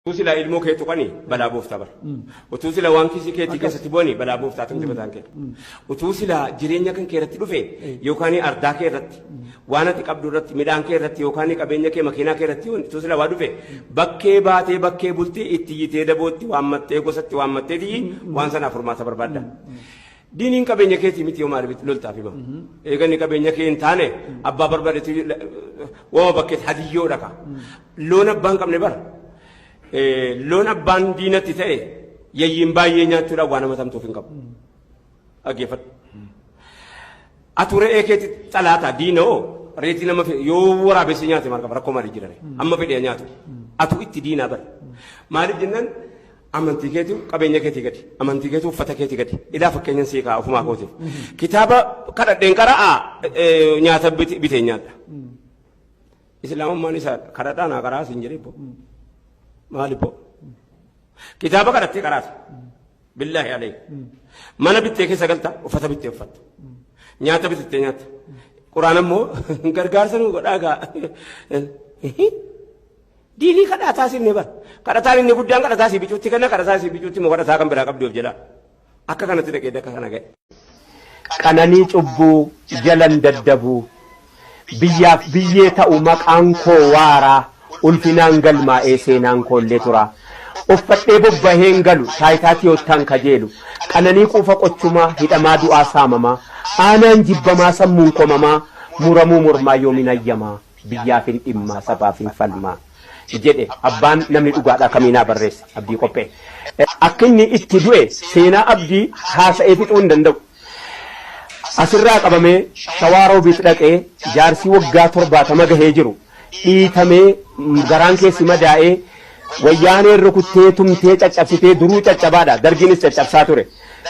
Utuu silaa ilmoo kee tuqani balaa booftaa bara. Utuu silaa waan kiisii keetii keessatti bu'ani balaa booftaa tamte bataan kee. Utuu silaa jireenya kan kee irratti dhufe yookaan ardaa kee irratti waan ati qabdu irratti midhaan kee irratti yookaan qabeenya kee makiinaa kee irratti utuu silaa waa dhufe bakkee baatee bakkee bultii itti iyyitee dabootti waammattee gosatti waammattee tiyyi waan sanaaf furmaata barbaadda. Diiniin qabeenya keetii miti yoo maaliif loltaaf hima. Eeganni qabeenya kee hin taane abbaa barbadetu wama bakkeetti hadiyyoo dhaqa. Loon abbaan qabne bara. Loon abbaan diinatti ta'e yayyiin baay'ee nyaachuudhaan waan nama tamtuuf hin qabu. Dhaggeeffadhu. Atu re'ee keetti xalaata diina oo reetii nama yoo waraabessi nyaate maal qaba rakkoo maalii jirare amma fedhee nyaatu. Atu itti diinaa bara. Maaliif jennaan Amantii keetu qabeenya keetii gadi. Amantii keetu uffata keetii gadi. Ilaa fakkeenyan sii ka'a ofumaa kootiif. Kitaaba kadhadheen qara'a eh, nyaata bit- bitee nyaadha. Islaamummaan isaadha. Kadhadhaa naa qara'a siin jedhee boo. Maali boo? Kitaaba kadhattee qaraata. Billaahi alayhi. Mana bittee keessa galta uffata bittee uffatta. Nyaata bitattee nyaatta. Quraan ammoo gargaarsa nu godhaa gaa. Diinii kadhaa taasifne bar. Kadhataan inni guddaan kadhataa sii bicuutti kenna, kadhataa sii bicuutti immoo kadhataa kan biraa qabdi of jalaa. Akka kanatti dhaqee dakka kana ga'e. Qananii cubbuu jalan daddabu, biyyaaf biyyee ta'u maqaan koo waara, ulfinaan galmaa'ee seenaan koollee tura. Uffadhee bobbaheen galu, taayitaa tiyoottaan kajeelu, qananii quufa qochumaa, hidhamaa du'aa saamamaa, aanaan jibbamaa sammuun komamaa, muramuu mormaa yoomin ayyamaa. biyyaafin dhimmaa sabaafin falmaa jedhe abbaan namni dhugaadhaa kamiinaa barreesse Abdii Qophee. Akkinni itti du'e seenaa Abdii haasa'ee fixuu hin danda'u. Asirraa qabamee Shawaa Roobiit dhaqee jaarsii waggaa 70 gahee jiru dhiitamee garaan keessi madaa'ee wayyaaneen rukuttee tumtee caccabsitee duruu caccabaadha dargiinis caccabsaa ture.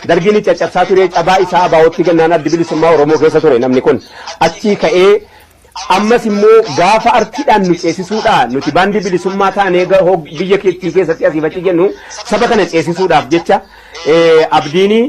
Dargiinis caccabsaa turee cabaa isaa abaawootti gannaan addi bilisummaa Oromoo keessa ture namni kun achii ka'ee Ammas immoo gaafa artiidhaan nu ceesisuudha. Nuti baandii bilisummaa taanee ga- hog- biyya keettii keessatti asiif achi jennu saba kana ceesisuudhaaf jecha eh, abdiini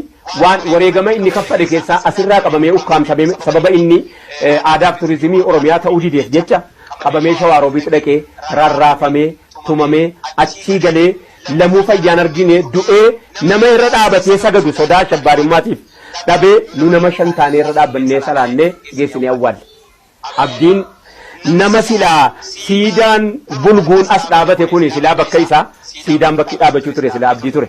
waan wareegama inni kaffale keessaa asirraa qabamee ukkaamsamee sababa inni eh, aadaaf turizimii Oromiyaa ta'uu dideef jecha qabamee shawaa roobiitti dhaqee rarraafamee tumamee achii galee lamuu fayyaan argine du'ee nama irra dhaabatee sagadu sodaa ashabbaarimmaatiif dhabe nu nama shan taanee irra dhaabbannee salaannee geessinee awwaalle. Abdiin nama silaa siidaan bulguun as dhaabate kuni silaa bakka isaa siidaan bakki dhaabachuu ture silaa abdii ture.